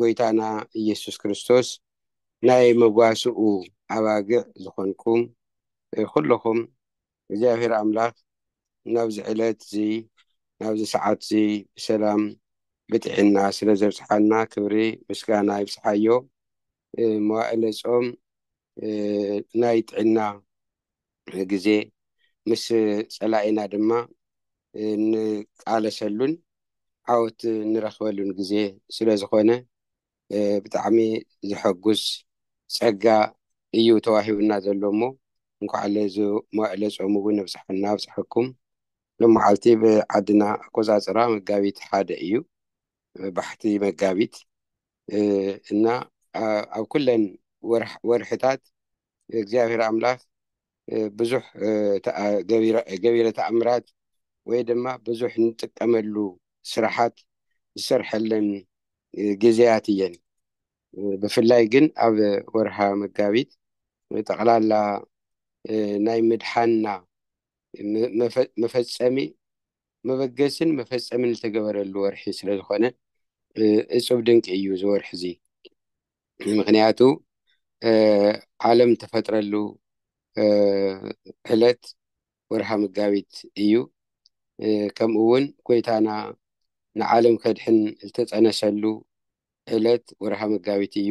ጎይታና ኢየሱስ ክርስቶስ ናይ መጓስኡ ኣባግዕ ዝኾንኩም ኩሎኹም እግዚኣብሔር ኣምላኽ ናብዚ ዕለት እዚ ናብዚ ሰዓት እዚ ብሰላም ብጥዒና ስለ ዘብጽሓና ክብሪ ምስጋና ይብጽሓዮ መዋእለ ጾም ናይ ጥዕና ግዜ ምስ ጸላኢና ድማ ንቃለሰሉን ዓወት ንረኽበሉን ግዜ ስለ ዝኾነ ብጣዕሚ ዘሐጉስ ጸጋ እዩ ተዋሂቡና ዘሎ እሞ እንኳዕ ለዚ መዋእለ ጾም እውን ኣብጽሓና ኣብጽሓኩም። ሎማዓልቲ ብዓድና ኣቆጻጽራ መጋቢት ሓደ እዩ ባሕቲ መጋቢት እና ኣብ ኩለን ወርሕታት እግዚኣብሔር ኣምላኽ ብዙሕ ገቢረ ተኣምራት ወይ ድማ ብዙሕ ንጥቀመሉ ስራሓት ዝሰርሐለን ግዜያት እየን ብፍላይ ግን ኣብ ወርሃ መጋቢት ጠቕላላ ናይ ምድሓና መፈፀሚ መበገስን መፈፀምን ዝተገበረሉ ወርሒ ስለዝኾነ እፁብ ድንቂ እዩ እዚ ወርሒ እዚ ምክንያቱ ዓለም ተፈጥረሉ ዕለት ወርሃ መጋቢት እዩ ከምኡ እውን ጎይታና ንዓለም ከድሕን ዝተፀነሰሉ ዕለት ወርሃ መጋቢት እዩ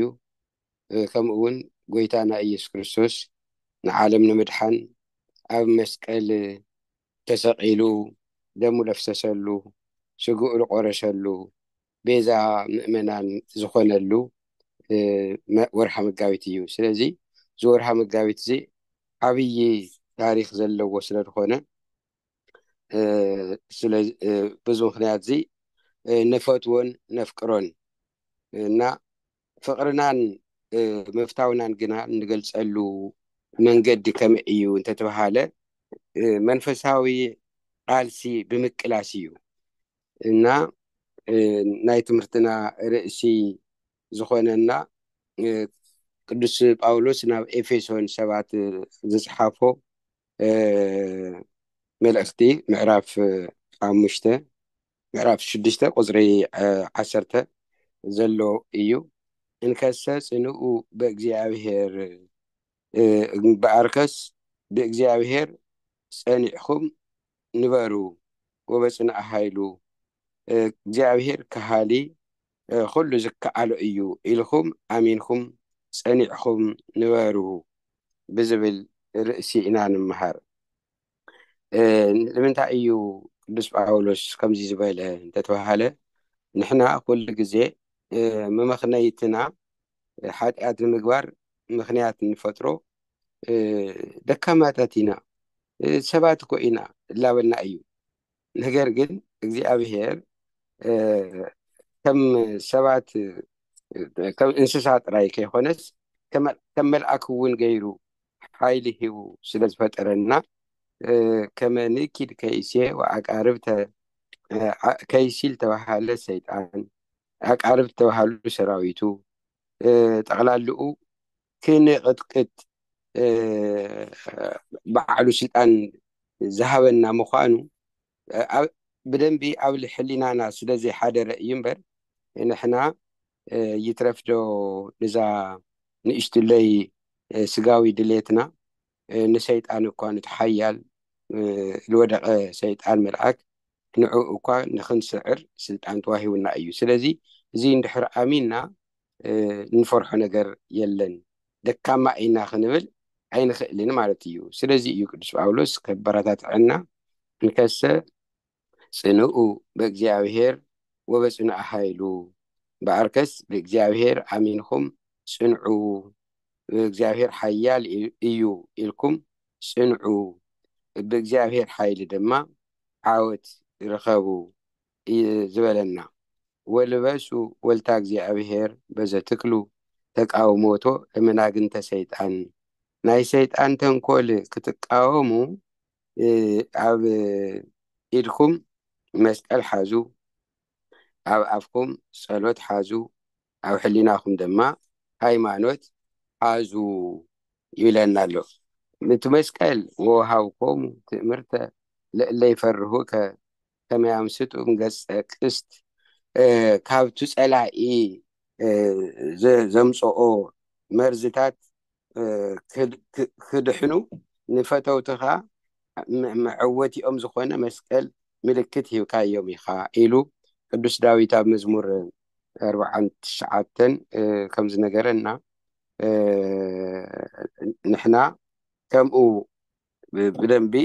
ከምኡ እውን ጎይታና ኢየሱስ ክርስቶስ ንዓለም ንምድሓን ኣብ መስቀል ተሰቒሉ ደሙ ለፍሰሰሉ ስግኡ ልቆረሸሉ ቤዛ ምእመናን ዝኾነሉ ወርሃ መጋቢት እዩ ስለዚ እዚ ወርሃ መጋቢት እዚ ዓብዪ ታሪክ ዘለዎ ስለ ዝኾነ ብዙ ምክንያት እዚ ንፈትዎን ነፍቅሮን እና ፍቕርናን ምፍታውናን ግና እንገልፀሉ መንገዲ ከመይ እዩ እንተተባሃለ መንፈሳዊ ቃልሲ ብምቅላስ እዩ እና ናይ ትምህርትና ርእሲ ዝኾነና ቅዱስ ጳውሎስ ናብ ኤፌሶን ሰባት ዝፅሓፎ መልእኽቲ ምዕራፍ ሓሙሽተ ምዕራፍ ሽዱሽተ ቁፅሪ ዓሰርተ ዘሎ እዩ እንከሰ ፅንኡ በእግዚኣብሔር እምበኣርከስ ብእግዚኣብሔር ጸኒዕኹም ንበሩ ወበጽንዕ ሃይሉ እግዚኣብሔር ከሃሊ ኩሉ ዝከኣሎ እዩ ኢልኹም ኣሚንኩም ጸኒዕኹም ንበሩ ብዝብል ርእሲ ኢና ንምሃር። ንምንታይ እዩ ቅዱስ ጳውሎስ ከምዚ ዝበለ እንተተባሃለ ንሕና ኩሉ ግዜ መመኽነይትና ሓጢኣት ንምግባር ምክንያት ንፈጥሮ ደካማታት ኢና ሰባት እኮ ኢና እላበልና እዩ ነገር ግን እግዚኣብሄር ከም ሰባት ከም እንስሳ ጥራይ ከይኮነስ ከም መልኣክ እውን ገይሩ ሓይሊ ሂቡ ስለ ዝፈጠረና ከመ ንእኪድ ከይሴ ኣቃርብተ ከይሲል ተባሃለ ሰይጣን ኣቃርብ ተባሃሉ ሰራዊቱ ጠቅላልኡ ክንቕጥቅጥ ባዕሉ ስልጣን ዝሃበና ምዃኑ ብደንቢ ኣብ ሕሊናና ስለ ዘይሓደረ እዩ እምበር ንሕና ይትረፍዶ ንዛ ንእሽትለይ ስጋዊ ድሌትና ንሰይጣን እኳ ንቲ ሓያል ዝወደቐ ሰይጣን መልኣክ ንዑ እኳ ንክንስዕር ስልጣን ተዋሂውና እዩ ስለዚ እዚ እንድሕር ኣሚንና እንፈርሖ ነገር የለን ደካማ እይና ክንብል ኣይንኽእልን ማለት እዩ ስለዚ እዩ ቅዱስ ጳውሎስ ከበራታትዐና እንከሰ ጽንኡ በእግዚኣብሔር ወበጽኑዐ ኃይሉ በኣርከስ ብእግዚኣብሔር ኣሚንኹም ጽንዑ ብእግዚኣብሔር ሓያል እዩ ኢልኩም ጽንዑ ብእግዚኣብሔር ሓይሊ ድማ ዓወት ርኸቡ እዩ ዝበለና ወልበሱ ወልታ እግዚኣብሔር በዘትክሉ ተቃውሞቶ ለመናግንተ ሰይጣን ናይ ሰይጣን ተንኮል ክትቃወሙ ኣብ ኢድኩም መስቀል ሓዙ፣ ኣብ ኣፍኩም ጸሎት ሓዙ፣ ኣብ ሕሊናኹም ድማ ሃይማኖት ሓዙ ይብለና ኣሎ። እቲ መስቀል ወሃብኮሙ ትእምርተ ለእለ ይፈርሁከ ሰማያዊ ስጡም ገጸ ቅስት ካብቲ ጸላኢ ዘምጽኦ መርዝታት ክድሕኑ ንፈተውትኻ መዐወቲኦም ዝኾነ መስቀል ምልክት ሂብካዮም ኢኻ ኢሉ ቅዱስ ዳዊት ኣብ መዝሙር ኣርብዓን ትሽዓተን ከም ዝነገረና ንሕና ከምኡ ብደንቢ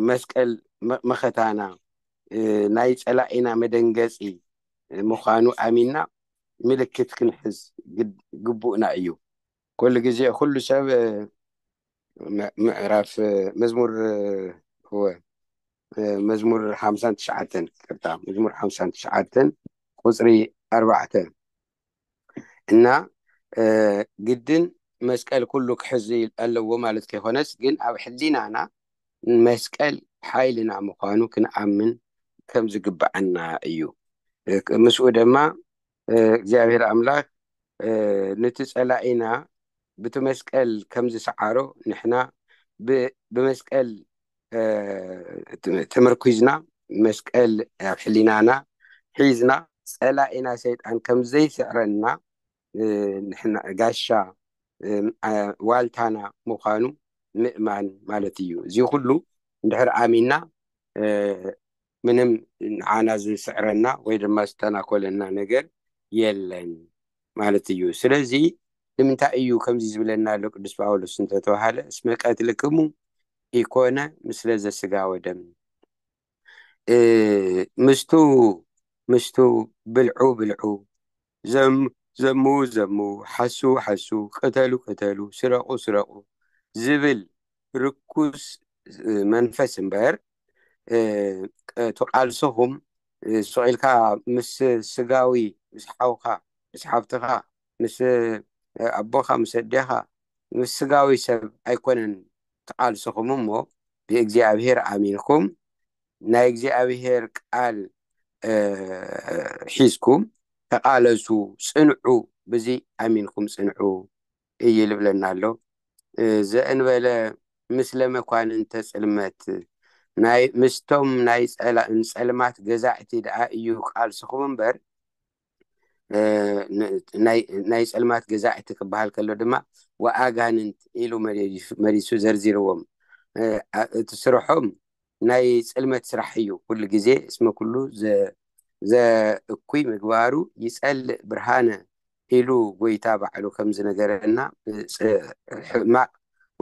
መስቀል መኸታና ናይ ፀላኢና መደንገፂ ምዃኑ ኣሚና ምልክት ክንሕዝ ግቡእና እዩ ኩሉ ግዜ ኩሉ ሰብ ምዕራፍ መዝሙር እወ መዝሙር ሓምሳን ትሽዓተን ቅርታ መዝሙር ሓምሳን ትሽዓተን ቁፅሪ ኣርባዕተ እና ግድን መስቀል ኩሉ ክሕዝ ኣለዎ ማለት ከይኮነስ ግን ኣብ ሕሊናና መስቀል ሓይልና ምኳኑ ክንኣምን ከም ዝግብኣና እዩ ምስኡ ድማ እግዚኣብሔር ኣምላክ ንቲ ፀላኢና ብቲ መስቀል ከም ዝሰዓሮ ንሕና ብመስቀል ተመርኲዝና መስቀል ኣብ ሕሊናና ሒዝና ፀላኢና ሰይጣን ከምዘይስዕረና ንሕና ጋሻ ዋልታና ምዃኑ ምእማን ማለት እዩ እዚ ኩሉ እንድሕር ኣሚና ምንም ንዓና ዝስዕረና ወይ ድማ ዝተናኮለና ነገር የለን ማለት እዩ ስለዚ ንምንታይ እዩ ከምዚ ዝብለና ኣሎ ቅዱስ ጳውሎስ እንተተባሃለ እስመ ቀትልክሙ ኢኮነ ምስለ ዘስጋ ወደም ምስቱ ምስቱ ብልዑ ብልዑ ዘም ዘምው ዘምው ሓስው ሓስው ቅተሉ ቅተሉ ስረቁ ስረቁ ዝብል ርኩስ መንፈስ እምበር እቲ ቃልስኹም ስቅ ኢልካ ምስ ስጋዊ ምስ ሓውካ ምስ ሓፍትኻ ምስ ኣቦኻ ምስ ኣዴኻ ምስ ስጋዊ ሰብ ኣይኮነን ትቃልስኹም እሞ ብእግዚኣብሄር ኣሚንኩም ናይ እግዚኣብሔር ቃል ሒዝኩም ተቃለሱ ጽንዑ ብዚ ኣሚንኩም ጽንዑ እይ ልብለና ኣሎ ዘእንበለ ምስለ መኳንንተ ጽልመት ናይ ምስቶም ናይ ጸልማት ገዛእቲ ደኣ እዩ ቃልስኹም እምበር ናይ ጸልማት ገዛእቲ ክበሃል ከሎ ድማ ወኣጋንንት ኢሉ መሪሱ ዘርዚርዎም እቲ ስርሖም ናይ ጽልመት ስራሕ እዩ ኩሉ ግዜ እስመ ኩሉ ዘእኩይ ምግባሩ ይጸልእ ብርሃነ ኢሉ ጎይታ ባዕሉ ከም ዝነገረና ሕማቅ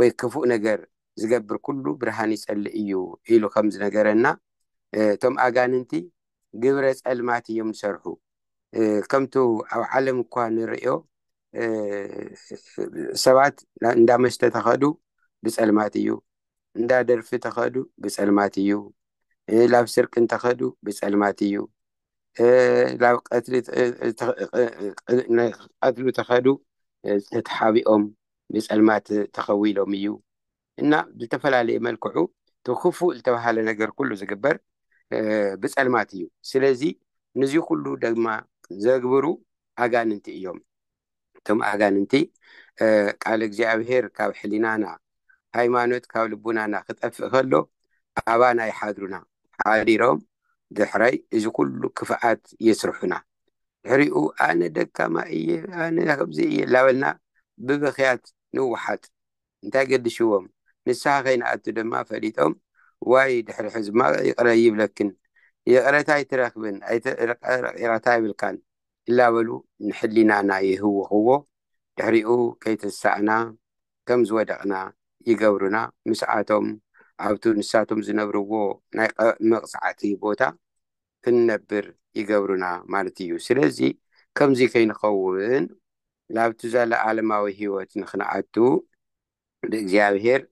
ወይ ክፉእ ነገር ዝገብር ኩሉ ብርሃን ይጸልእ እዩ ኢሉ ከም ዝነገረና እቶም ኣጋንንቲ ግብረ ጸልማት እዮም ዝሰርሑ ከምቱ ኣብ ዓለም እኳ ንርእዮ ሰባት እንዳ መስተ ተኸዱ ብጸልማት እዩ እንዳ ደርፊ ተኸዱ ብጸልማት እዩ ላብ ስርቂ እንተኸዱ ብጸልማት እዩ ላብ ቀትሉ ተኸዱ ተተሓቢኦም ብጸልማት ተኸዊሎም እዩ እና ብልተፈላለየ መልክዑ ትክፉእ ልተብሃለ ነገር ኩሉ ዝግበር ብጸልማት እዩ ስለዚ ንዙ ኩሉ ደግማ ዘግብሩ ኣጋንንቲ እዮም እቶም ኣጋንንቲ ቃል እግዚኣብሔር ካብ ሕሊናና ሃይማኖት ካብ ልቡናና ክጠፍእ ከሎ ኣባና ይሓድሩና ሓዲሮም ድሕራይ እዚ ኩሉ ክፍኣት የስርሑና ድሕሪኡ ኣነ ደካማ እየ ኣነ ከምዚ እየ ላበልና ብብክያት ንውሓጥ እንታይ ገድሽዎም ንስሓ ከይንኣቱ ደማ ፈሊጦም ዋይ ድሕሪ ሕዝማቅ ይቅረ ኣይብለክን ይቅረታ ኣይትረክብን ኣይተረቂቅታ የብልካን እላበሉ ንሕሊናና ይህውክዎ ድሕሪኡ ከይተንሳእና ከም ዝወደቅና ይገብሩና ምስኣቶም ኣብቱ ንሳቶም ዝነብርዎ ናይ መቅጻዕቲ ቦታ ክንነብር ይገብሩና ማለት እዩ ስለዚ ከምዚ ከይንከውን ናብቲ ዘለኣለማዊ ህይወት ንኽንኣቱ ብእግዚኣብሔር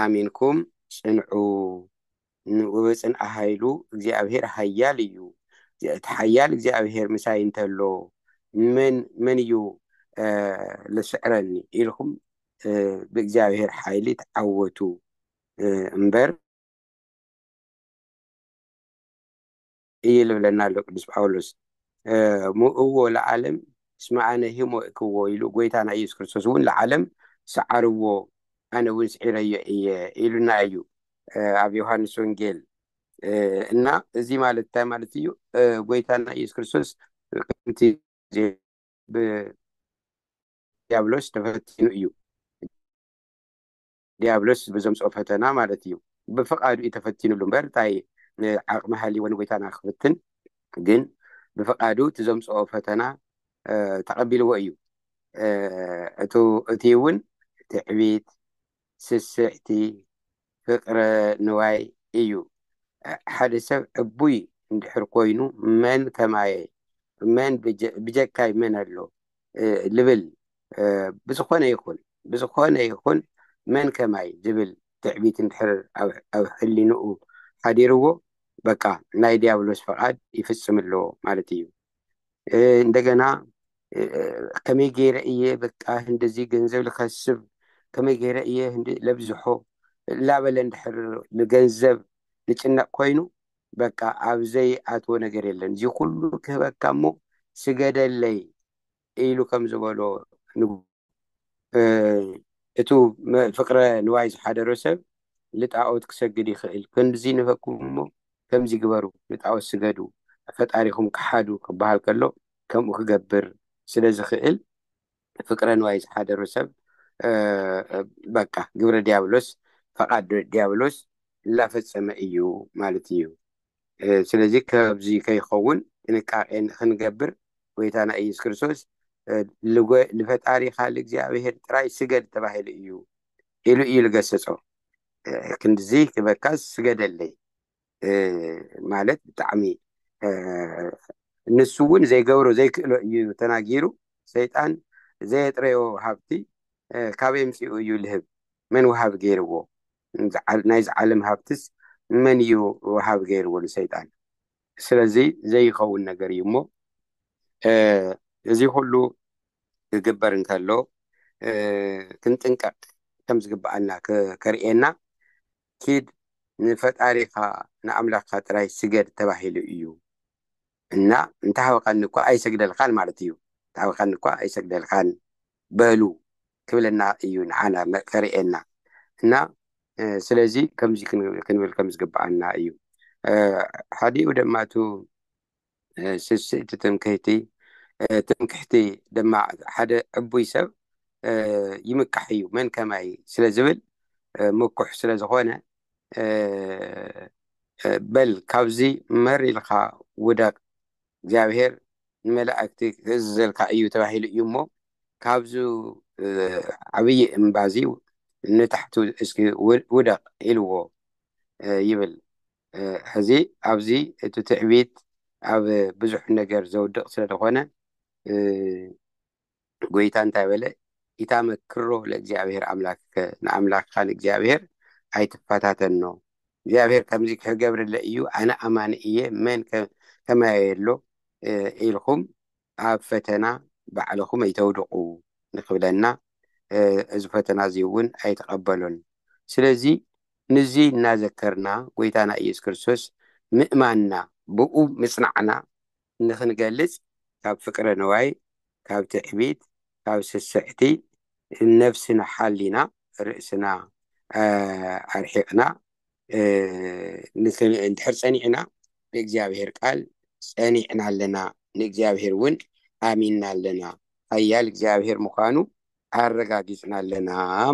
ኣሚንኩም ጽንዑ ንብጽንዓ ኃይሉ እግዚኣብሔር ኃያል እዩ እቲ ኃያል እግዚኣብሔር ምሳይ እንተሎ መን መን እዩ ልስዕረኒ ኢልኩም ብእግዚኣብሔር ኃይሊ ተዓወቱ እምበር እዩ ልብለና ኣሎ ቅዱስ ጳውሎስ እሞ እዎ ለዓለም እስመ ኣነ ህሞ እክዎ ኢሉ ጎይታና ኢየሱስ ክርስቶስ እውን ለዓለም ሰዓርዎ ኣነ እውን ስዒረዮ እየ ኢሉና እዩ ኣብ ዮሃንስ ወንጌል እና እዚ ማለት እንታይ ማለት እዩ ጎይታና ኢየሱስ ክርስቶስ ከምቲ ብዲያብሎስ ተፈቲኑ እዩ ዲያብሎስ ብዘምጽኦ ፈተና ማለት እዩ። ብፍቃዱ እዩ ተፈቲኑሉ እምበር ታይ ዓቅሚ ሃሊዎ ንጎይታና ክፍትን ግን ብፍቃዱ እቲ ዘምጽኦ ፈተና ተቀቢልዎ እዩ እቱ እቲ እውን ትዕቢት ስስዕቲ ፍቅረ ንዋይ እዩ ሓደ ሰብ ዕቡይ እንድሕር ኮይኑ መን ከማየ መን ብጀካይ መን ኣሎ ልብል ብዝኾነ ይኹን ብዝኾነ ይኹን መን ከማይ ዝብል ትዕቢት እንድሕር ኣብ ሕሊንኡ ሓዲርዎ በቃ ናይ ዲያብሎስ ፍቓድ ይፍጽም ኣሎ ማለት እዩ። እንደገና ከመይ ገይረ እየ በቃ እንደዚ ገንዘብ ልኸስብ ከመይ ገይረ እየ ለብዝሖ ላበለ እንድሕር ንገንዘብ ልጭነቕ ኮይኑ በቃ ኣብ ዘይ ኣትዎ ነገር የለን እዚ ኩሉ ክህበካ እሞ ስገደለይ ኢሉ ከም ዝበሎ ንጉስ እቱ ፍቅረ ንዋይ ዝሓደሮ ሰብ ልጣኦት ክሰግድ ይኽእል ክንድዚ ንህበኩም እሞ ከምዚ ግበሩ ንጣኦት ስገዱ ፈጣሪኹም ክሓዱ ክበሃል ከሎ ከምኡ ክገብር ስለ ዝኽእል ፍቅረ ንዋይ ዝሓደሮ ሰብ በቃ ግብረ ዲያብሎስ ፈቃድ ዲያብሎስ ላፈፀመ እዩ ማለት እዩ ስለዚ ከዚ ከይኸውን ጥንቃቄ ንክንገብር ጎይታና ኢየሱስ ክርስቶስ ንፈጣሪካ ንእግዚኣብሄር ጥራይ ስገድ ተባሂሉ እዩ ኢሉ እዩ ዝገሰፆ ክንድዚ ክበካስ ስገደለይ ማለት ብጣዕሚ ንሱ እውን ዘይገብሮ ዘይክእሎ እዩ ተናጊሩ ሰይጣን ዘየጥረዮ ሃብቲ ካበይ ምፅኡ እዩ ልህብ መን ውሃብ ገይርዎ ናይዚ ዓለም ሃብትስ መን እዩ ውሃብ ገይርዎ ንሰይጣን ስለዚ ዘይኸውን ነገር እዩ እሞ እዚ ኩሉ ክግበር እንከሎ ክንጥንቀቅ ከም ዝግበኣና ከርእየና ኪድ ንፈጣሪኻ ንኣምላኽካ ጥራይ ስገድ ተባሂሉ እዩ እና እንተሓዊኻኒ እኳ ኣይሰግደልኻን ማለት እዩ እንተሓዊኻኒ እኳ ኣይሰግደልኻን በሉ ክብለና እዩ ንዓና ከርእየና እና ስለዚ ከምዚ ክንብል ከም ዝግብኣና እዩ ሓዲኡ ደማ እቱ ስስእቲ ትምክህቲ ትምክሕቲ ድማ ሓደ ዕቡይ ሰብ ይምካሕ እዩ መን ከማይ ስለ ዝብል ምኩሕ ስለ ዝኾነ በል ካብዚ መር ኢልካ ውደቅ እግዚኣብሄር ንመላእክቲ ክእዝዘልካ እዩ ተባሂሉ እዩ እሞ ካብዚ ዓብዪ እምባዚ ንታሕቱ እስኪ ውደቅ ኢልዎ ይብል ሕዚ ኣብዚ እቲ ትዕቢት ኣብ ብዙሕ ነገር ዘውድቕ ስለ ዝኾነ ጎይታ እንታይ በለ ኢታ መክሮ ለእግዚኣብሔር ኣምላክከ ንኣምላክካ ንእግዚኣብሔር ኣይትፈታተኖ እግዚኣብሔር ከምዚ ክገብርለ እዩ ኣነ ኣማኒ እየ መን ከማየ ኣሎ ኢልኩም ኣብ ፈተና ባዕልኹም ኣይተውድቑ ንክብለና እዚ ፈተና እዚ እውን ኣይተቐበሎን። ስለዚ ንዚ እናዘከርና ጎይታና ኢየሱስ ክርስቶስ ምእማንና ብእኡ ምጽናዕና ንክንገልጽ ካብ ፍቅረ ንዋይ ካብ ትዕቢት ካብ ስስዕቲ ነፍስና ሓሊና ርእስና ኣርሒቅና ንድሕር ፀኒዕና ብእግዚኣብሔር ቃል ፀኒዕና ኣለና ንእግዚኣብሔር እውን ኣሚንና ኣለና ሃያል እግዚኣብሔር ምዃኑ ኣረጋጊፅና ኣለና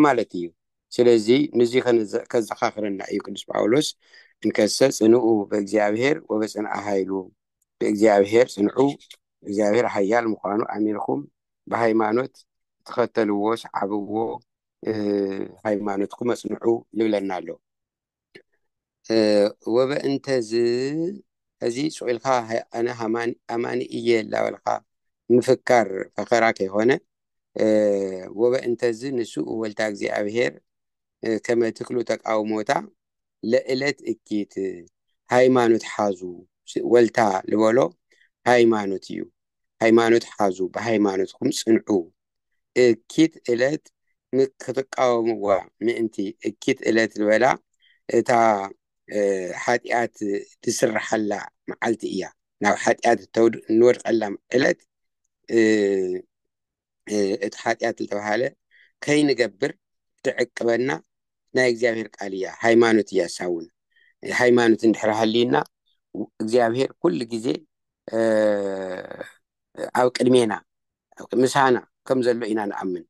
ማለት እዩ ስለዚ ንዙ ከዘኻኽረና እዩ ቅዱስ ጳውሎስ እንከሰ ፅንኡ ብእግዚኣብሔር ወበፅንኣ ሃይሉ ብእግዚኣብሔር ፅንዑ እግዚኣብሔር ሃያል ምዃኑ ኣሚንኹም ብሃይማኖት ተኸተልዎ ሰዓብዎ ሃይማኖትኩም ኣፅንዑ ይብለና ኣሎ ወበእንተዝ እዚ ፅቁኢልካ ኣነ ኣማኒ እየ ላበልካ ምፍካር ፈኸራ ከይኮነ ወበእንተዝ ንሱ ወልታ እግዚኣብሄር ከመ ትክሉ ተቃውሞታ ለእለት እኪት ሃይማኖት ሓዙ ወልታ ልበሎ ሃይማኖት እዩ ሃይማኖት ሓዙ ብሃይማኖትኩም ፅንዑ እኪት እለት ንክትቃወምዋ ምእንቲ እኪት እለት ዝበላ እታ ሓጢኣት ዝስርሓላ መዓልቲ እያ ናብ ሓጢኣት እንወድቀላ ዕለት እቲ ሓጢኣት ዝተባሃለ ከይንገብር ትዕቅበና ናይ እግዚኣብሔር ቃል እያ ሃይማኖት እያ ሳውን ሃይማኖት እንድሕር ሃልዩና እግዚኣብሔር ኩሉ ግዜ ኣብ ቅድሜና ምሳና ከም ዘሎ ኢና ንኣምን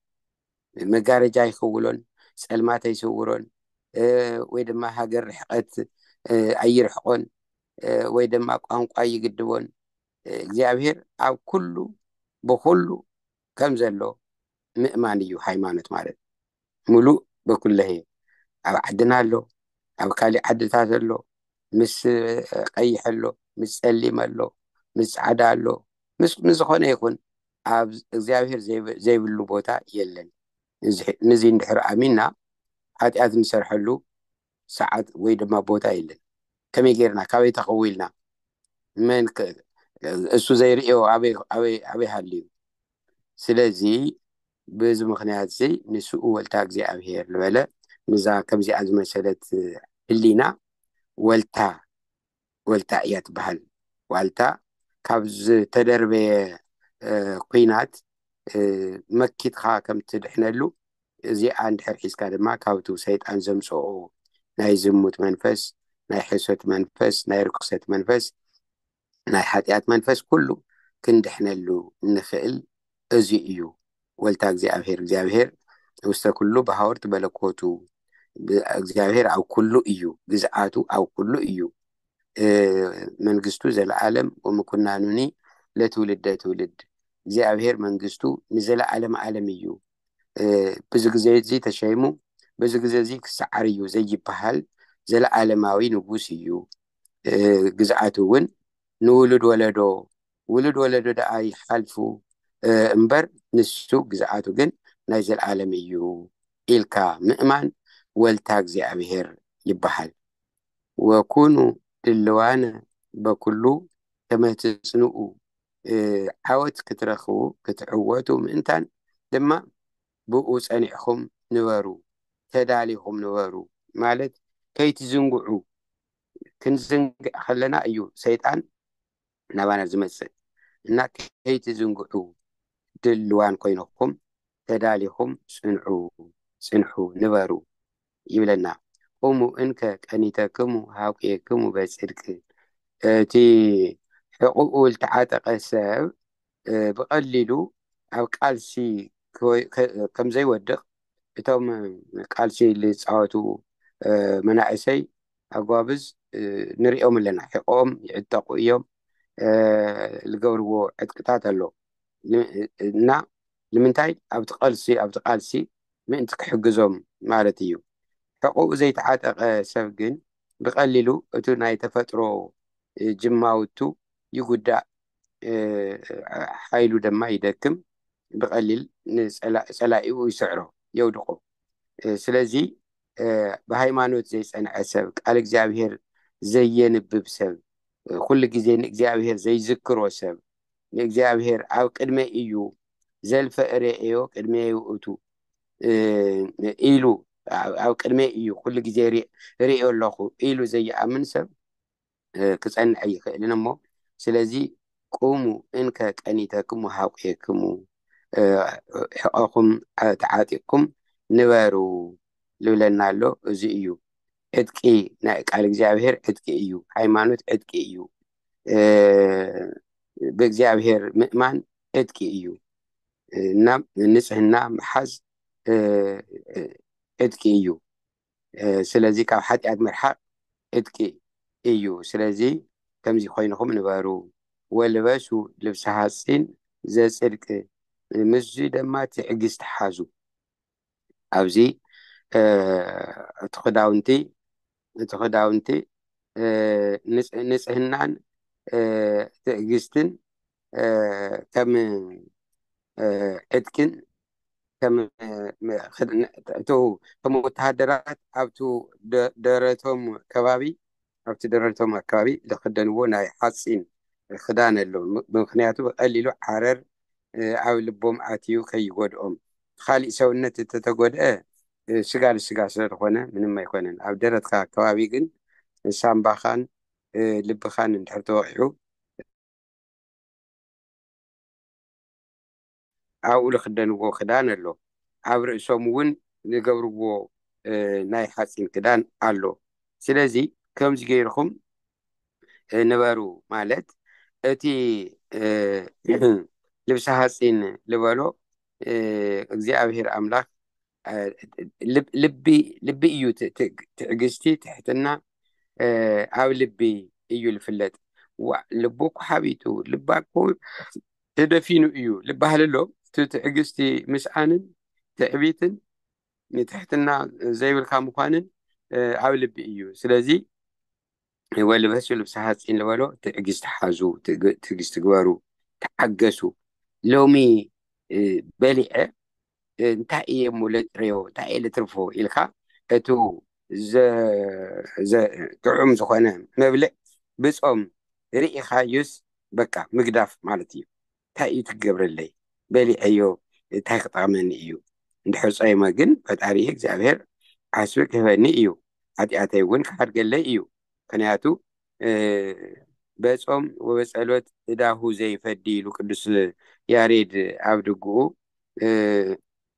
መጋረጃ ይክውሎን ጸልማት ኣይስውሮን ወይ ድማ ሃገር ርሕቀት ኣይርሕቆን ወይ ድማ ቋንቋ ይግድቦን እግዚኣብሔር ኣብ ኩሉ ብኩሉ ከም ዘሎ ምእማን እዩ ሃይማኖት ማለት ምሉእ በኩለሄ ኣብ ዓድና ኣሎ ኣብ ካሊእ ዓድታት ኣሎ ምስ ቀይሕ ኣሎ ምስ ጸሊም ኣሎ ምስ ጻዕዳ ኣሎ ምስ ንዝኾነ ይኹን ኣብ እግዚኣብሔር ዘይብሉ ቦታ የለን ንዚ እንድሕር ኣሚና ሓጢኣት ንሰርሐሉ ሰዓት ወይ ድማ ቦታ የለን ከመይ ጌርና ካበይ ተኸዊልና መን እሱ ዘይርእዮ ኣበይ ሃልዩ ስለዚ በዚ ምኽንያትዚ ንስኡ ወልታ እግዚኣብሔር ልበለ ንዛ ከምዚኣ ዝመሰለት ህሊና ወልታ ወልታ እያ ትበሃል ዋልታ ካብ ዝተደርበየ ኩናት መኪትካ ከም ትድሕነሉ እዚኣ እንድሕር ሒዝካ ድማ ካብቱ ሰይጣን ዘምፅኦ ናይ ዝሙት መንፈስ ናይ ሕሶት መንፈስ ናይ ርክሰት መንፈስ ናይ ሓጢኣት መንፈስ ኩሉ ክንድሕነሉ እንክእል እዙይ እዩ። ወልታ እግዚኣብሔር እግዚኣብሔር ውስተ ኩሉ በሃወርት በለኮቱ እግዚኣብሔር ኣብ ኩሉ እዩ ግዝኣቱ ኣብ ኩሉ እዩ መንግስቱ ዘለዓለም ወምኩናኑኒ ለትውልደ ትውልድ እግዚኣብሔር መንግስቱ ንዘለዓለም ዓለም እዩ ብዙ ግዜ እዚ ተሸይሙ ብዙ ግዜ እዚ ክሰዓር እዩ ዘይበሃል ዘለዓለማዊ ንጉስ እዩ ግዝኣት እውን ንውሉድ ወለዶ ውሉድ ወለዶ ደኣ ይሓልፉ እምበር ንሱ ግዝኣቱ ግን ናይ ዘልኣለም እዩ ኢልካ ምእማን ወልታ እግዚኣብሔር ይበሃል። ወኩኑ ድልዋነ በኩሉ ከመ ትጽንኡ ዓወት ክትረኽቡ ክትዕወቱ ምእንታን ድማ ብእኡ ጸኒዕኩም ንበሩ፣ ተዳሊኹም ንበሩ ማለት ከይትዝንግዑ፣ ክንዝንግዕ ከለና እዩ ሰይጣን ናባና ዝመጽእ እና ከይትዝንግዑ ድልዋን ኮይንኩም ተዳሊኹም ጽንዑ፣ ጽንሑ፣ ንበሩ። ይብለና እሙ እንከ ቀኒተክሙ ሃቍየክሙ በጽድቅ እቲ ሕቝኡ ልተዓጠቐ ሰብ ብቐሊሉ ኣብ ቃልሲ ከም ዘይወድቕ እቶም ቃልሲ ልጻወቱ መናእሰይ ኣጓብዝ ንርእዮም ኣለና ሕቝኦም ይዕጠቑ እዮም ልገብርዎ ዕጥቅታት ኣሎ እና ንምንታይ ኣብቲ ቀልሲ ኣብቲ ቃልሲ ምእንቲ ክሕግዞም ማለት እዩ ሕቁኡ ዘይተዓጠቀ ሰብ ግን ብቀሊሉ እቱ ናይ ተፈጥሮ ጅማውቱ ይጉዳእ ሓይሉ ደማ ይደክም ብቀሊል ንፀላኢኡ ይስዕሮ የውድቆ ስለዚ ብሃይማኖት ዘይፀንዐ ሰብ ቃል እግዚኣብሔር ዘየንብብ ሰብ ኩሉ ግዜ ንእግዚኣብሔር ዘይዝክሮ ሰብ ንእግዚኣብሔር ኣብ ቅድመይ እዩ ዘልፈ እሬኤዮ ቅድሜ ይውእቱ ኢሉ ኣብ ቅድመይ እዩ ኩሉ ግዜ ርእዮ ኣለኹ ኢሉ ዘይኣምን ሰብ ክጸንዐ ይኽእልን እሞ ስለዚ ቁሙ እንከ ቀኒተክሙ ሃቁኤክሙ ሕቆኹም ተዓጢቕኩም ንበሩ ልብለና ኣሎ እዚ እዩ ዕጥቂ ናይ ቃል እግዚኣብሔር ዕጥቂ እዩ ሃይማኖት ዕጥቂ እዩ ብእግዚኣብሔር ምእማን ዕጥቂ እዩ እና ንጽህና ምሓዝ ዕጥቂ እዩ ስለዚ ካብ ሓጢኣት ምርሓቅ ዕጥቂ እዩ ስለዚ ከምዚ ኮይንኹም ንበሩ ወልበሱ ልብሲ ሃፂን ዘፅድቂ ምስዚ ድማ ትዕግስቲ ሓዙ ኣብዚ እቲ ክዳውንቲ እቲ ክዳውንቲ ንጽህናን ትዕግስትን ከም ዕጥቅን ከም ወተሃደራት ኣብቲ ደረቶም ከባቢ ኣብቲ ደረቶም ኣከባቢ ልኽደንዎ ናይ ሓጺን ኽዳን ኣሎ ምኽንያቱ ብቀሊሉ ዓረር ኣብ ልቦም ኣትዩ ከይጎድኦም ኻሊእ ሰውነት እተተጎድኣ ስጋ ንስጋ ስለልኾነ ምንም ኣይኮነን ኣብ ደረትካ ኣከባቢ ግን ሳምባኻን ልብኻን እንድሕር ተወቂዑ ኣብኡ ልኽደንዎ ክዳን ኣሎ፣ ኣብ ርእሶምውን ልገብርዎ ናይ ሓጺን ክዳን ኣሎ፣ ስለዚ ከምዚ ገይርኹም ንበሩ ማለት እቲ ልብሰ ሓጺን ልበሎ እግዚኣብሄር ኣምላኽ ልቢ እዩ ትዕግስቲ ትሕትና ኣብ ልቢ እዩ ዝፍለጥ ልቡ እኮ ሓቢጡ ልባ እኮ ተደፊኑ እዩ ዝበሃል ኣሎ እቲ ትዕግስቲ ምስኣንን ትዕቢትን ንትሕትና ዘይብልካ ምኳንን ኣብ ልቢ እዩ ስለዚ እወ ልበሱ ልብሲ ሓፂን ልበሎ ትዕግስቲ ሓዙ ትዕግስቲ ግበሩ ተሓገሱ ሎሚ በሊዐ እንታይ እየ እሞ ለጥርዮ እንታይ እየ ልትርፎ ኢልካ እቲ ጥዑም ዝኾነ መብልዕ ብፆም ርኢኻዩስ በቃ ምግዳፍ ማለት እዩ ታይ እዩ ትገብረለይ በሊዐዮ ታይ ክጠቅመኒ እዩ እንድሕር ፆይመ ግን ፈጣሪየ እግዚኣብሔር ዓስቢ ክህበኒ እዩ ሓጥያተይ እውን ክሓድገለይ እዩ ምክንያቱ በፆም ወበፀሎት እዳሁ ዘይፈዲ ኢሉ ቅዱስ ያሬድ ኣብ ድጉኡ።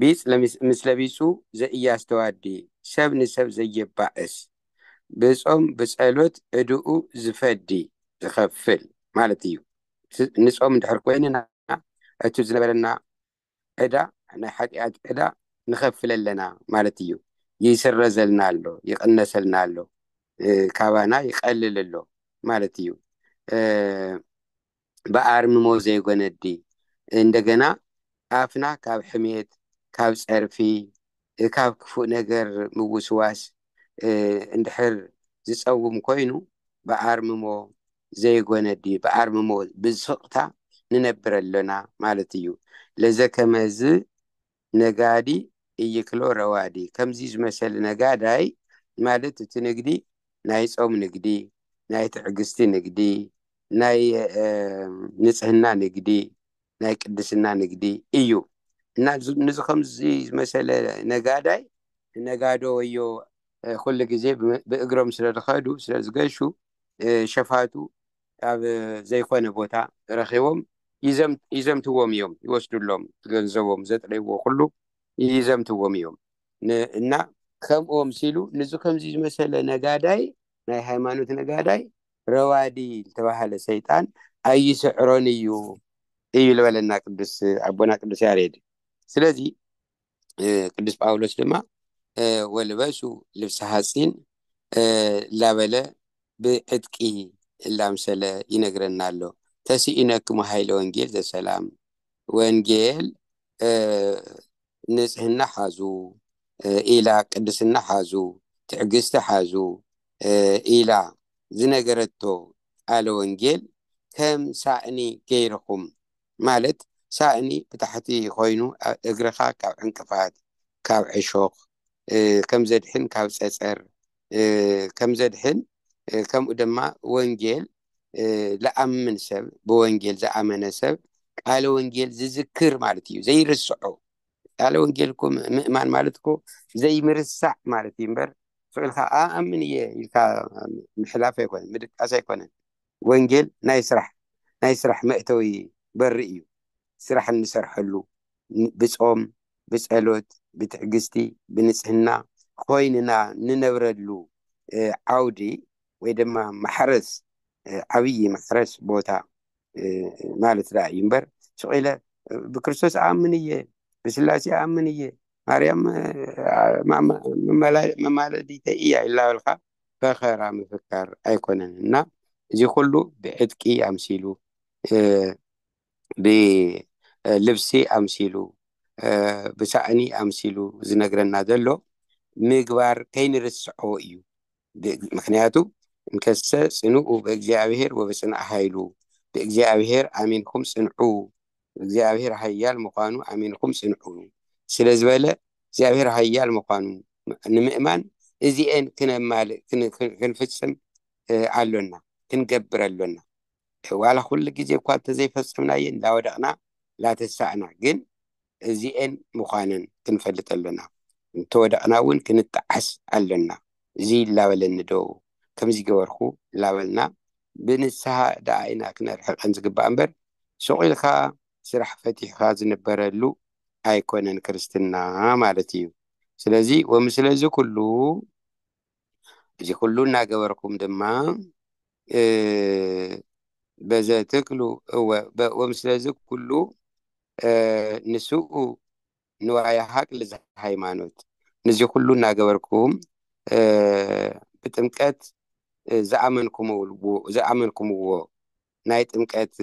ቢጽ ለምስለ ቢጹ ዘኢያስተዋዲ ሰብ ንሰብ ዘየባእስ ብጾም ብጸሎት ዕድኡ ዝፈዲ ዝኸፍል ማለት እዩ። ንጾም እንድሕር ኮይንና እቲ ዝነበረና ዕዳ ናይ ሓጢኣት ዕዳ ንኸፍል ኣለና ማለት እዩ። ይስረዘልና ኣሎ፣ ይቕነሰልና ኣሎ፣ ካባና ይቐልል ኣሎ ማለት እዩ። ብኣርምሞ ዘይጎነዲ እንደገና ኣፍና ካብ ሕሜት ካብ ጸርፊ ካብ ክፉእ ነገር ምውስዋስ እንድሕር ዝጸውም ኮይኑ ብኣርምሞ ዘይጎነዲ ብኣርምሞ ብስቕታ ንነብር ኣሎና ማለት እዩ ለዘከመዝ ነጋዲ እይክሎ ረዋዲ ከምዚ ዝመሰለ ነጋዳይ ማለት እቲ ንግዲ ናይ ጾም ንግዲ ናይ ትዕግስቲ ንግዲ ናይ ንጽህና ንግዲ ናይ ቅድስና ንግዲ እዩ እና ንዚ ከምዚ ዝመሰለ ነጋዳይ ነጋዶ ወዮ ኩሉ ግዜ ብእግሮም ስለ ዝኸዱ ስለ ዝገሹ ሸፋቱ ካብ ዘይኮነ ቦታ ረኪቦም ይዘምትዎም እዮም ይወስድሎም ገንዘቦም ዘጥረይዎ ኩሉ ይዘምትዎም እዮም እና ከምኦም ሲሉ ንዚ ከምዚ ዝመሰለ ነጋዳይ ናይ ሃይማኖት ነጋዳይ ረዋዲ ዝተባሃለ ሰይጣን ኣይስዕሮን እዩ እዩ ዝበለና ቅዱስ ኣቦና ቅዱስ ያሬድ ስለዚ ቅዱስ ጳውሎስ ድማ ወልበሱ ልብሲ ሃፂን ላበለ ብዕጥቂ እላምሰለ ይነግረና ኣሎ ተስኢነክሙ ሃይለ ወንጌል ዘሰላም ወንጌል ንፅህና ሓዙ ኢላ ቅድስና ሓዙ ትዕግስቲ ሓዙ ኢላ ዝነገረቶ ቃለ ወንጌል ከም ሳእኒ ገይርኹም ማለት ሳእኒ ብታሕቲ ኮይኑ እግርኻ ካብ ዕንቅፋት ካብ ዕሾኽ ከም ዘድሕን ካብ ጸጸር ከም ዘድሕን ከምኡ ድማ ወንጌል ልኣምን ሰብ ብወንጌል ዝኣመነ ሰብ ቃለ ወንጌል ዝዝክር ማለት እዩ ዘይርስዖ ቃለ ወንጌል እኮ ምእማን ማለት እኮ ዘይምርሳዕ ማለት እዩ እምበር ስዑልካ ኣኣምን እየ ኢልካ ምሕላፍ ኣይኮነን ምድቃስ ኣይኮነን ወንጌል ናይ ስራሕ ናይ ስራሕ መእተዊ በሪ እዩ ስራሕ እንሰርሐሉ ብጾም ብጸሎት ብትዕግስቲ ብንጽህና ኮይንና ንነብረሉ ዓውዲ ወይ ድማ ማሕረስ ዓብይ ማሕረስ ቦታ ማለት ደኣ እዩ እምበር ስቅ ኢለ ብክርስቶስ እኣምን እየ ብስላሴ እኣምን እየ ማርያም መማለዲተይ እያ ይላበልካ ፈኸራ ምፍካር ኣይኮነን እና እዚ ኩሉ ብዕጥቂ ኣምሲሉ ብልብሲ ኣምሲሉ ብሳእኒ ኣምሲሉ ዝነግረና ዘሎ ምግባር ከይንርስዖ እዩ ምክንያቱ እንከሰ ፅንኡ ብእግዚኣብሔር ወብፅንዕ ሃይሉ ብእግዚኣብሔር ኣሚንኩም ፅንዑ እግዚኣብሔር ኃያል ምዃኑ ኣሚንኩም ጽንዑ ስለ ዝበለ እግዚኣብሔር ኃያል ምዃኑ ንምእማን እዚኤን ክነማልእ ክንፍጽም ኣሎና ክንገብር ኣሎና ዋላ ኩሉ ግዜ እኳ እንተዘይፈጸምናየ እንዳወደቕና ላተሳእና ግን እዚኤን ምዃነን ክንፈልጥ ኣሎና እንተወደቕና እውን ክንጠዓስ ኣሎና እዚ ላበለኒ ዶ ከምዚ ገበርኩ ላበልና ብንስሃ ደኣ ኢና ክነርሕቀን ዝግባእ እምበር ሱቅ ኢልካ ስራሕ ፈቲሕካ ዝንበረሉ ኣይኮነን ክርስትና ማለት እዩ ስለዚ ወምስለ እዚ ኩሉ እዚ ኩሉ እናገበርኩም ድማ በዘ ትክሉ እወ ወምስለዚ ኩሉ ንስኡ ንዋየ ሃቅል ዘሃይማኖት ንዚ ኩሉ እናገበርኩም ብጥምቀት ዝኣመንኩምዎ ናይ ጥምቀት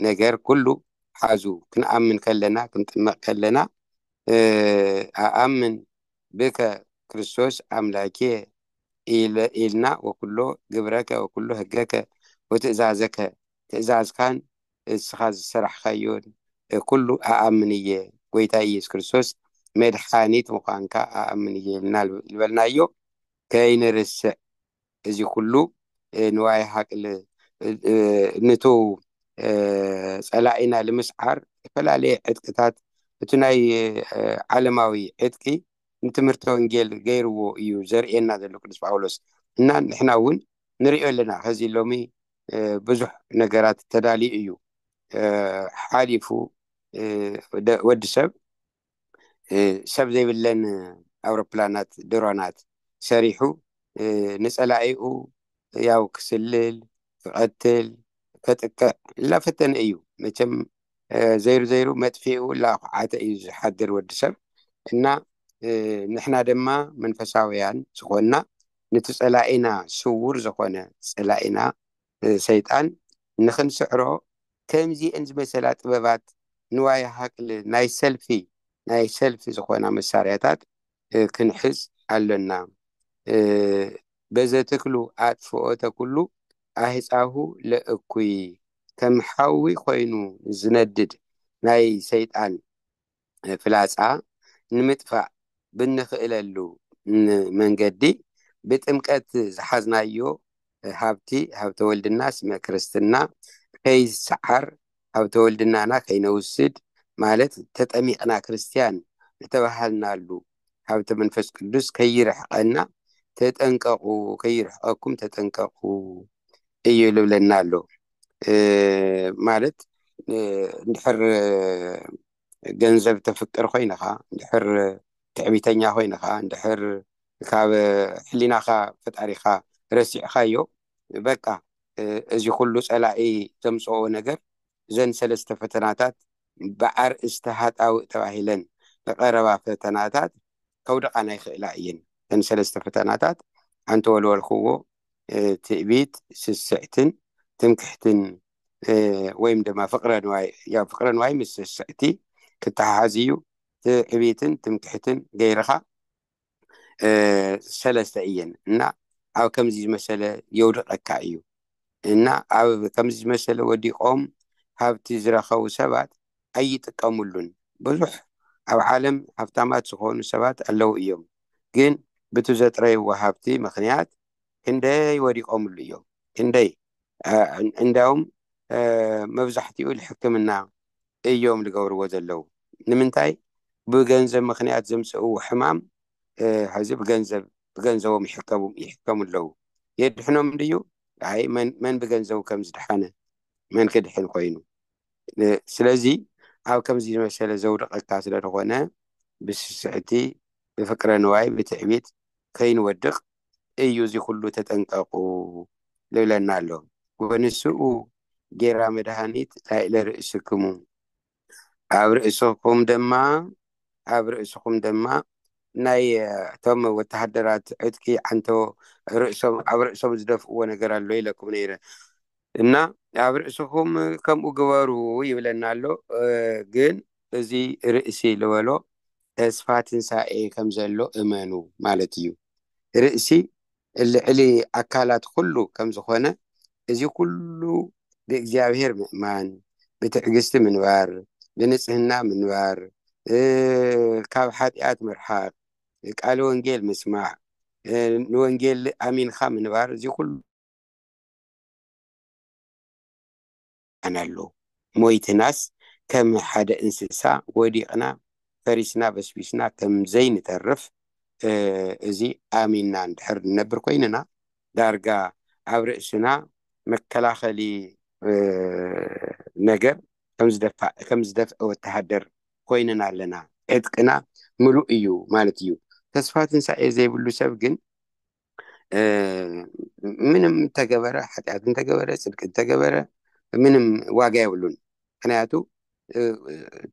ነገር ኩሉ ሓዙ ክንኣምን ከለና ክንጥመቅ ከለና ኣኣምን ብከ ክርስቶስ ኣምላኬየ ኢልና ወኩሎ ግብረከ ወኩሎ ህገከ ወትእዛዘከ ትእዛዝካን እስኻ ዝሰራሕካዮን ኩሉ ኣኣምን እየ ጎይታ ኢየሱስ ክርስቶስ መድሓኒት ምዃንካ ኣኣምን እየ ኢልና ልበልናዮ ከይንርስዕ እዚ ኩሉ ንዋይ ሃቅል ንቱ ጸላኢና ልምስዓር እተፈላለየ ዕጥቅታት እቲ ናይ ዓለማዊ ዕጥቂ ንትምህርቲ ወንጌል ገይርዎ እዩ ዘርእየና ዘሎ ቅዱስ ጳውሎስ እና ንሕና እውን ንሪኦ ኣለና ከዚ ሎሚ ብዙሕ ነገራት ተዳልዩ እዩ ሓሊፉ ወዲ ሰብ ሰብ ዘይብለን ኣውሮፕላናት ድሮናት ሰሪሑ ንፀላኢኡ ያው ክስልል ክቐትል ከጥቅዕ እናፈተነ እዩ መቸም ዘይሩ ዘይሩ መጥፊኡ ላኩዓተ እዩ ዝሓድር ወዲ ሰብ እና ንሕና ድማ መንፈሳውያን ዝኾንና ንቲ ጸላኢና ስዉር ዝኾነ ጸላኢና ሰይጣን ንኽንስዕሮ ከምዚኤን ዝመሰላ ጥበባት ንዋይ ሃቅል ናይ ሰልፊ ናይ ሰልፊ ዝኾና መሳርያታት ክንሕዝ ኣሎና በዘትክሉ ኣጥፍኦተ ኩሉ ኣህጻሁ ለእኩይ ከም ሓዊ ኮይኑ ዝነድድ ናይ ሰይጣን ፍላጻ ንምጥፋእ ብንኽእለሉ መንገዲ ብጥምቀት ዝሓዝናዮ ሃብቲ ሃብተ ወልድና ስመ ክርስትና ከይሰዓር ሃብተ ወልድናና ከይነውስድ ማለት ተጠሚቅና ክርስትያን ዝተባሃልናሉ ሃብተ መንፈስ ቅዱስ ከይርሕቀና ተጠንቀቁ ከይርሕቀኩም ተጠንቀቁ እዩ ልብለና ኣሎ ማለት እንድሕር ገንዘብ ተፍቅር ኮይንኻ እንድሕር ትዕቢተኛ ኮይንኻ እንድሕር ካብ ሕሊናኻ ፈጣሪኻ ረሲዕኻዮ በቃ እዚ ኩሉ ፀላኢ ዘምፀኦ ነገር እዘን ሰለስተ ፈተናታት ብኣርእስቲ ሃጣውእ ተባሂለን ዝቐረባ ፈተናታት ከውድቓና ይኽእላ እየን። እተን ሰለስተ ፈተናታት ኣንተወልወልክዎ ትእቢት፣ ስስዕትን ትምክሕትን ወይም ድማ ፍቕረ ንዋይ ያው ፍቕረ ንዋይ ምስ ስስዕቲ ክተሓሓዝ እዩ። ትዕቢትን ትምክሕትን ገይርኻ ሰለስተ እየን እና ኣብ ከምዚ ዝመሰለ የውድቀካ እዩ እና ኣብ ከምዚ ዝመሰለ ወዲቆም ሃብቲ ዝረከቡ ሰባት ኣይጥቀምሉን ብዙሕ ኣብ ዓለም ሃብታማት ዝኾኑ ሰባት ኣለዉ እዮም ግን ብቲ ዘጥረይዎ ሃብቲ ምክንያት ክንደይ ወዲቆምሉ እዮም ክንደይ እንዳውም መብዛሕትኡ ሕክምና እዮም ልገብርዎ ዘለው ንምንታይ ብገንዘብ ምክንያት ዘምፅእዎ ሕማም ሀዚ ብገንዘብ ብገንዘቦም ይሕከሙ ይሕከሙ ኣለው የድሕኖም ድዩ ኣይ መን መን ብገንዘቡ ከም ዝድሓነ መን ክድሕን ኮይኑ ስለዚ ኣብ ከምዚ ዝመሰለ ዘውድቀካ ስለዝኾነ ብስስዕቲ ብፍቅረ ንዋይ ብትዕቢት ከይንወድቅ እዩ እዚ ኩሉ ተጠንቀቁ ልብለና ኣሎ ወንስኡ ጌራ መድሃኒት ላይእለ ርእስክሙ ኣብ ርእስኩም ደማ ኣብ ርእስኩም ደማ ናይ እቶም ወተሃደራት ዕጥቂ ዓንቶ ርእሶም ኣብ ርእሶም ዝደፍእዎ ነገር ኣሎ ኢለኩም ነይረ እና ኣብ ርእስኩም ከምኡ ግበሩ ይብለና ኣሎ ግን እዚ ርእሲ ልበሎ ተስፋ ትንሣኤ ከም ዘሎ እመኑ ማለት እዩ። ርእሲ ልዕሊ ኣካላት ኹሉ ከም ዝኾነ እዚ ኹሉ ብእግዚኣብሔር ምእማን፣ ብትዕግሥቲ ምንባር፣ ብንጽሕና ምንባር፣ ካብ ኃጢኣት ምርሓቅ፣ ቃለ ወንጌል ምስማዕ፣ ንወንጌል ኣሚንካ ምንባር እዚ ኹሉ። ይብልካን ኣሎ ሞይትናስ ከም ሓደ እንስሳ ወዲቅና ፈሪስና በስቢስና ከም ዘይንተርፍ እዚ ኣሚንና እንድሕር ንነብር ኮይንና ዳርጋ ኣብ ርእስና መከላኸሊ ነገር ከም ዝደፍዐ ወተሃደር ኮይንና ኣለና ዕጥቅና ምሉእ እዩ ማለት እዩ ተስፋ ትንሳኤ ዘይብሉ ሰብ ግን ምንም ተገበረ ሓጢኣት እንተገበረ ፅድቂ እንተገበረ ምንም ዋጋ የብሉን ምክንያቱ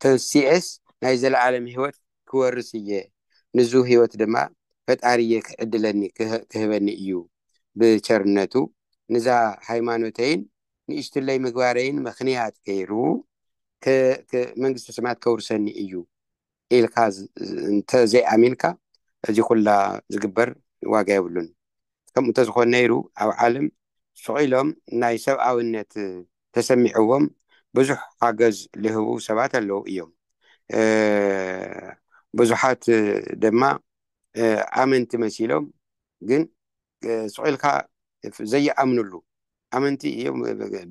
ተንሲኤስ ናይ ዘለዓለም ህይወት ክወርስ እየ ንዙ ህይወት ድማ ፈጣሪ እየ ክዕድለኒ ክህበኒ እዩ ብቸርነቱ ንዛ ሃይማኖተይን ንእሽትለይ ምግባረይን ምክንያት ገይሩ መንግስቲ ስማት ከውርሰኒ እዩ ኢልካ እንተ ዘይኣሚንካ እዚ ኩላ ዝግበር ዋጋ የብሉን። ከምኡ እንተዝኾን ነይሩ ኣብ ዓለም ሱቕ ኢሎም ናይ ሰብኣዊነት ተሰሚዕዎም ብዙሕ ሓገዝ ልህቡ ሰባት ኣለዉ እዮም። ብዙሓት ደማ ኣመንቲ መሲሎም ግን ስቕ ኢልካ ዘይኣምንሉ ኣመንቲ እዮም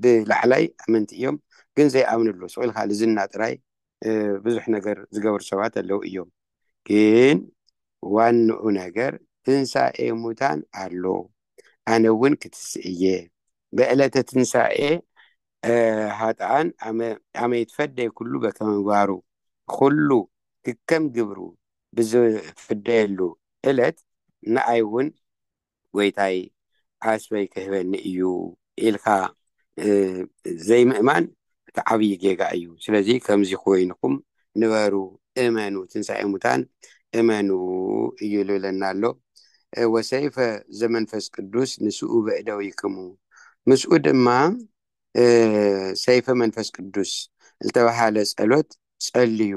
ብላዕላይ ኣመንቲ እዮም ግን ዘይኣምንሉ ስቕ ኢልካ ልዝና ጥራይ ብዙሕ ነገር ዝገብሩ ሰባት ኣለዉ እዮም ግን ዋንኡ ነገር ትንሳኤ ሙታን ኣሎ ኣነ እውን ክትስእ እየ ብዕለተ ትንሳኤ ሃጥኣን ኣመ ይትፈደይ ኩሉ በከመግባሩ ኩሉ ክከም ግብሩ ብዝፍደየሉ እለት ንኣይ እውን ጐይታይ ዓስበይ ክህበኒ እዩ ኢልካ ዘይምእማን እቲ ዓብዪ ጌጋ እዩ። ስለዚ ከምዚ ኮይንኩም ንበሩ እመኑ ትንሳኤ ሙታን እመኑ እዩ ልብለና ኣሎ። ወሰይፈ ዘመንፈስ ቅዱስ ንስኡ በእደዊክሙ ምስኡ ድማ ሰይፈ መንፈስ ቅዱስ ልተባሃለ ጸሎት ጸልዩ።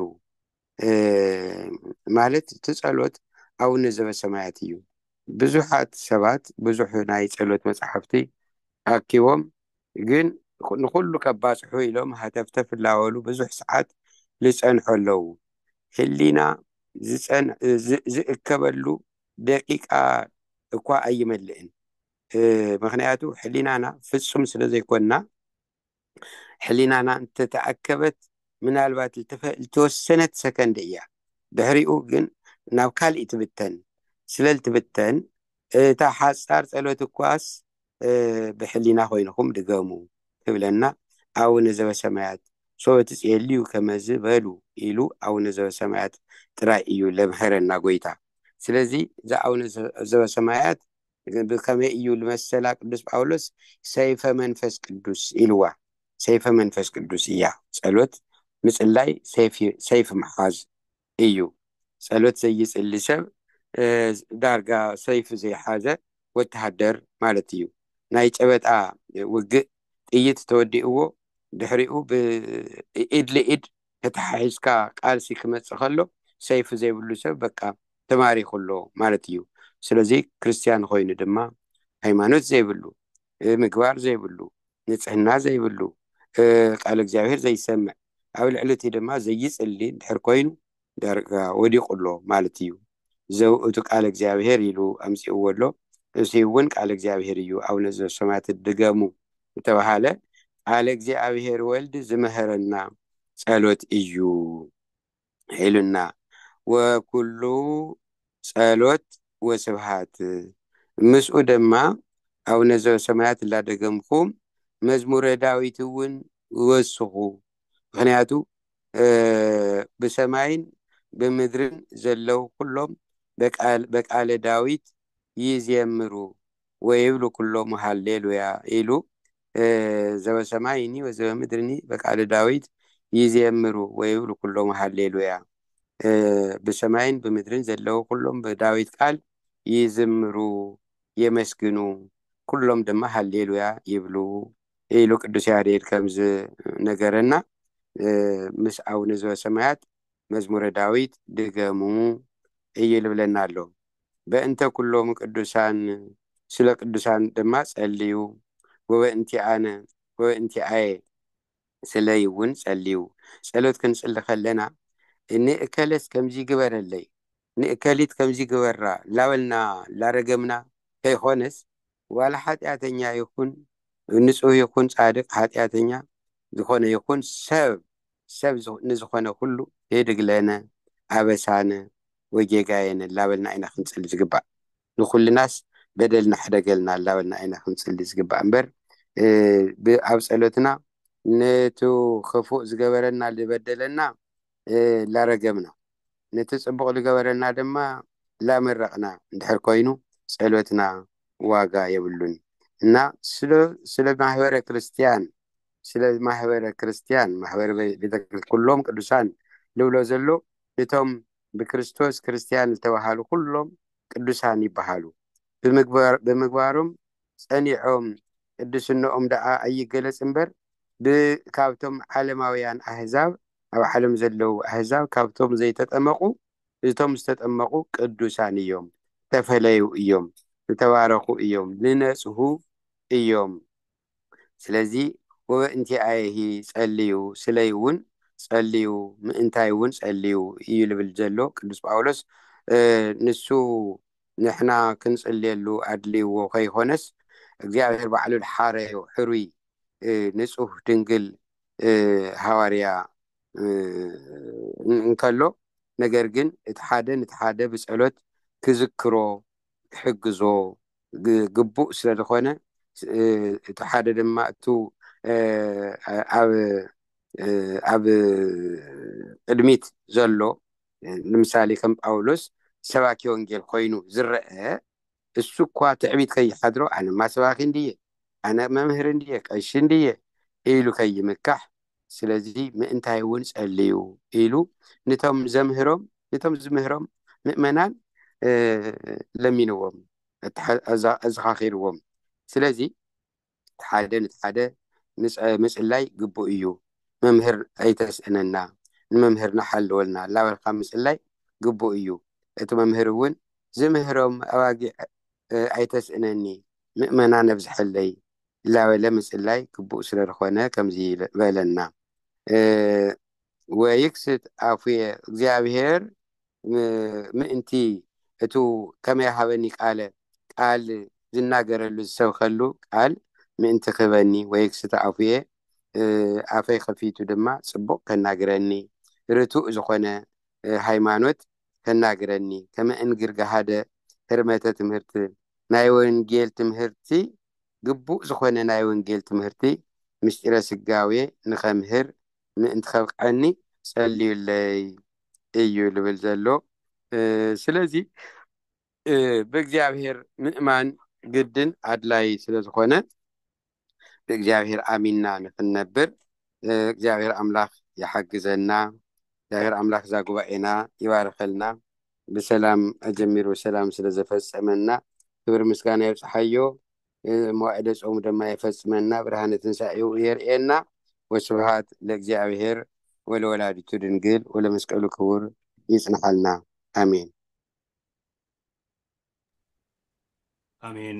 ማለት እቲ ጸሎት ኣውነ ዘበሰማያት እዩ ብዙሓት ሰባት ብዙሕ ናይ ጸሎት መጽሓፍቲ ኣኪቦም ግን ንኹሉ ከባጽሑ ኢሎም ሃተፍተፍ ላበሉ ብዙሕ ሰዓት ልጸንሑ ኣለዉ ህሊና ዝእከበሉ ደቂቃ እኳ ኣይመልእን ምክንያቱ ሕሊናና ፍጹም ስለ ዘይኮንና ሕሊናና እንተ ተኣከበት ምናልባት ልተወሰነት ሰከንድ እያ፣ ድሕሪኡ ግን ናብ ካልእ ትብተን። ስለ ልትብተን እታ ሓጻር ጸሎት እኳስ ብሕሊና ዀይንኹም ድገሙ ትብለና። ኣቡነ ዘበሰማያት ሶበ ትጼልዩ ከመዝ በሉ ኢሉ ኣቡነ ዘበሰማያት ጥራይ እዩ ለምሀረና ጐይታ። ስለዚ እዛ ኣቡነ ዘበሰማያት ብከመይ እዩ ልመሰላ ቅዱስ ጳውሎስ ሰይፈ መንፈስ ቅዱስ ኢልዋ ሰይፈ መንፈስ ቅዱስ እያ ጸሎት ምጽላይ ሰይፊ ምሓዝ እዩ ጸሎት ዘይጽሊ ሰብ ዳርጋ ሰይፊ ዘይሓዘ ወተሃደር ማለት እዩ ናይ ጨበጣ ውግእ ጥይት ተወዲእዎ ድሕሪኡ ብኢድ ልኢድ ተተሓሒዝካ ቃልሲ ክመጽእ ከሎ ሰይፊ ዘይብሉ ሰብ በቃ ተማሪኹ ኣሎ ማለት እዩ። ስለዚ ክርስትያን ኾይኑ ድማ ሃይማኖት ዘይብሉ፣ ምግባር ዘይብሉ፣ ንጽህና ዘይብሉ፣ ቃል እግዚኣብሔር ዘይሰምዕ፣ ኣብ ልዕሊ እቲ ድማ ዘይጽሊ እንድሕር ኮይኑ ዳርጋ ወዲቑ ኣሎ ማለት እዩ። ዘውእቱ ቃል እግዚኣብሔር ኢሉ ኣምጺእዎ ኣሎ። እዙይ እውን ቃል እግዚኣብሔር እዩ ኣቡነ ዘበሰማያት ድገሙ ዝተባህለ ቃለ እግዚኣብሔር ወልድ ዝመሀረና ጸሎት እዩ ሒሉና ወኩሉ ጸሎት ወስብሃት ምስኡ ደማ ኣቡነ ዘበሰማያት እላደገምኩም መዝሙረ ዳዊት እውን ወስኹ ምክንያቱ ብሰማይን ብምድርን ዘለው ኩሎም በቃለ ዳዊት ይዜምሩ ወይብሉ ኩሎሙ ሃሌ ሉያ ኢሉ ዘበሰማይኒ ወዘበምድርኒ በቃለ ዳዊት ይዜምሩ ወይብሉ ኩሎሙ ሃሌ ሉያ ብሰማይን ብምድርን ዘለዉ ኩሎም ብዳዊት ቃል ይዝምሩ የመስግኑ ኩሎም ድማ ሃሌ ሉያ ይብሉ ኢሉ ቅዱስ ያሬድ ከም ዝነገረና ምስ ኣቡነ ዘበሰማያት መዝሙረ ዳዊት ድገሙ እዩ ልብለና ኣሎ። በእንተ ኵሎም ቅዱሳን ስለ ቅዱሳን ድማ ጸልዩ፣ ወበእንቲኣነ ወበእንቲኣየ ስለይ እውን ጸልዩ። ጸሎት ክንጽሊ ከለና ንእከለስ ከምዚ ግበረለይ፣ ንእከሊት ከምዚ ግበራ እናበልና እናረገምና ከይኰነስ፣ ዋላ ሓጢኣተኛ ይኹን ንጹህ ይኹን ጻድቕ፣ ሓጢኣተኛ ዝዀነ ይኹን ሰብ ሰብ ንዝኾነ ኩሉ የድግለነ፣ ኣበሳነ ወይ ጌጋየነ እላበልና ኢና ክንጽሊ ዝግባእ። ንኩልናስ በደልና ሕደገልና እላበልና ኢና ክንጽሊ ዝግባእ እምበር ብ ኣብ ጸሎትና ነቱ ክፉእ ዝገበረና ልበደለና እላረገምና ነቲ ጽቡቕ ልገበረልና ድማ እላመረቕና እንድሕር ኮይኑ ጸሎትና ዋጋ የብሉን እና ስለ ማህበረ ክርስትያን ስለ ማሕበረ ክርስትያን ማሕበረ ቤተ ኩሎም ቅዱሳን ልብሎ ዘሎ እቶም ብክርስቶስ ክርስትያን ዝተባሃሉ ኩሎም ቅዱሳን ይበሃሉ ብምግባሮም ጸኒዖም ቅዱስነኦም ደኣ ኣይገለጽ እምበር ብካብቶም ዓለማውያን ኣህዛብ ኣብ ዓለም ዘለዉ ኣህዛብ ካብቶም ዘይተጠመቑ እቶም ዝተጠመቑ ቅዱሳን እዮም ተፈለዩ እዮም ዝተባረኹ እዮም ንነጽሁ እዮም ስለዚ ወበእንቲኣየሂ ጸልዩ፣ ስለይ እውን ጸልዩ፣ ምእንታይ እውን ጸልዩ እዩ ልብል ዘሎ ቅዱስ ጳውሎስ። ንሱ ንሕና ክንጽልየሉ ኣድልይዎ ከይኮነስ እግዚኣብሔር ባዕሉ ልሓረዮ ሕሩይ ንጹህ ድንግል ሃዋርያ እንከሎ ነገር ግን እቲ ሓደ ንቲ ሓደ ብጸሎት ክዝክሮ ክሕግዞ ግቡእ ስለ ዝኾነ እቲ ሓደ ድማ እቱ ኣብ ቅድሚት ዘሎ ንምሳሌ ከም ጳውሎስ ሰባኪ ወንጌል ኮይኑ ዝረአ እሱ እኳ ትዕቢት ከይሓድሮ ኣነማ ሰባኪ እንድየ ኣነ መምህር እንድየ ቀሺ እንድየ ኢሉ ከይምካሕ ስለዚ ምእንታይ እውን ጸልዩ ኢሉ ንቶም ዘምህሮም ንቶም ዝምህሮም ምእመናን ለሚንዎም ኣዘኻኺርዎም ስለዚ እቲ ሓደ ንቲ ሓደ ምጽላይ ግቡእ እዩ መምህር ኣይተስእነና ንመምህር ናሓልወልና ላበልካ ምጽላይ ግቡእ እዩ እቲ መምህር እውን ዝምህሮም ኣባጊዕ ኣይተስእነኒ ምእመና ነብዝሐለይ ላበለ ምጽላይ ግቡእ ስለልኾነ ከምዚ በለና ወይክስት ኣፉየ እግዚኣብሔር ምእንቲ እቱ ከመይ ሃበኒ ቃለ ቃል ዝናገረሉ ዝሰብኸሉ ቃል ምእንቲ ክህበኒ ወይክስት ኣፉየ ኣፈይ ከፊቱ ድማ ጽቡቕ ከናግረኒ ርቱእ ዝኾነ ሃይማኖት ከናግረኒ ከመ እንግር ገሃደ ህርመተ ትምህርት ናይ ወንጌል ትምህርቲ ግቡእ ዝኾነ ናይ ወንጌል ትምህርቲ ምሥጢረ ሥጋዌ ንኸምህር ምእንቲ ከብቅዐኒ ጸልዩለይ እዩ ልብል ዘሎ ስለዚ ብእግዚኣብሔር ምእማን ግድን ኣድላይ ስለ ዝኾነ ብእግዚኣብሔር ኣሚንና ንክንነብር እግዚኣብሔር ኣምላክ ይሓግዘና እግዚኣብሔር ኣምላክ እዛ ጉባኤና ይባርኸልና ብሰላም ኣጀሚሩ ብሰላም ስለ ዘፈፀመና ክብር ምስጋና ይብፅሓዮ መዋዕደ ፆሙ ድማ የፈፅመና ብርሃነ ትንሳኤኡ የርእየና ወስብሃት ለእግዚኣብሔር ወለወላዲቱ ድንግል ወለመስቀሉ ክቡር ይጽንሓልና ኣሜን ኣሜን